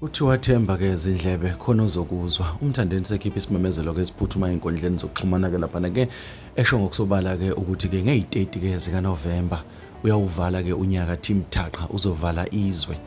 Kuthiwa themba ke izindlebe khona ozokuzwa. UMthandeni sekhipha isimemezelo ke siphuthuma enkundleni zokuxhumana ke lapha ke esho ngokusobala ke ukuthi ke ngeyi-30 ke zika November uyawuvala ke unyaka Team Thaqa uzovala izwe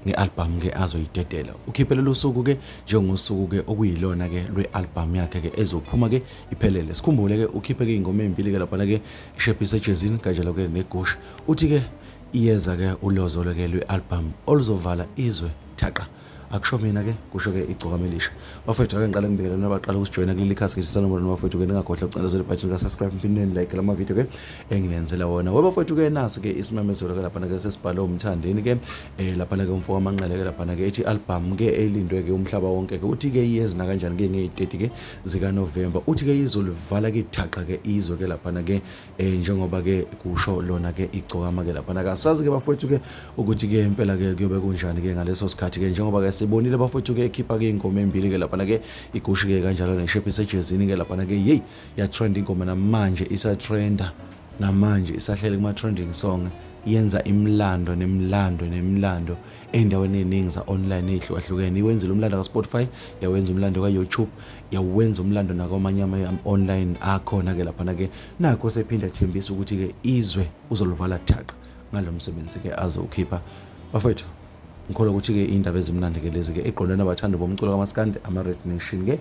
nge-albhamu ke azoyidedela ukhiphe lolu suku ke njengosuku ke okuyilona ke lwe-albhamu yakhe ke ezophuma ke iphelele sikhumbule ke ukhiphe ke ingoma ezimbili ke laphana ke ishephi sejezini kanjalo ke negush uthi ke iyeza ke ulozolo ke lwe-album oluzovala izwe thaqa akusho mina ke kusho ke igcokama elisha bafethu ake ngiqale ngibekele nina baqala ukusijoyina kuleli khasi ke sisalomona nobafethu ke ningagodla ukucindezela ibhathini ka-subscribe mphindeni like la mavidiyo ke enginenzela wona we bafethu ke nasi ke isimemezelo ke laphana ke sesibhale umthandeni ke um laphana ke umfo wamanqele ke laphana ke ethi album ke elindwe ke umhlaba wonke ke uthi ke iyezi nakanjani ke ngeyi-30 ke zikanovemba uthi ke izolivala ke ithaqa ke izwe ke laphana ke eh njengoba ke kusho lona ke igcokama ke lapha nakasazi ke bafowethu ke ukuthi ke impela ke kuyobe kunjani ke ngaleso sikhathi ke njengoba ke sibonile bafowethu ke ekhipha ke ingoma embili ke lapha ke igushi ke kanjalo neshephi sejezini ke lapha ke hey ya trend ingoma namanje isa trenda namanje isahlele kuma trending song yenza imlando nemlando nemlando ey'ndaweni ey'ningi za-online ey'hlukahlukene iwenzile umlando ka-spotify yawenza umlando ka-youtube yawenza umlando nakwamanye ama-online akhona-ke laphana-ke nakho sephinde athembisa ukuthi-ke izwe uzoluvala thaqa ngalo msebenzi-ke azowukhipha bafethu ngikholwa ukuthi-ke iy'ndaba ezimnandi-ke lezi-ke eqondwe nabathandi bomculo kamaskandi ama-red nation-ke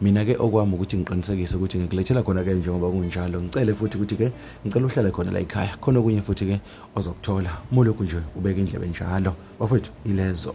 mina-ke okwami ukuthi ngiqinisekise ukuthi ngikulethela khona-ke njengoba kunjalo ngicele futhi ukuthi-ke ngicela uhlale khona la yikhaya khona okunye futhi-ke ozokuthola molokhu nje ubeka indlebe njalo bafowethu ilezo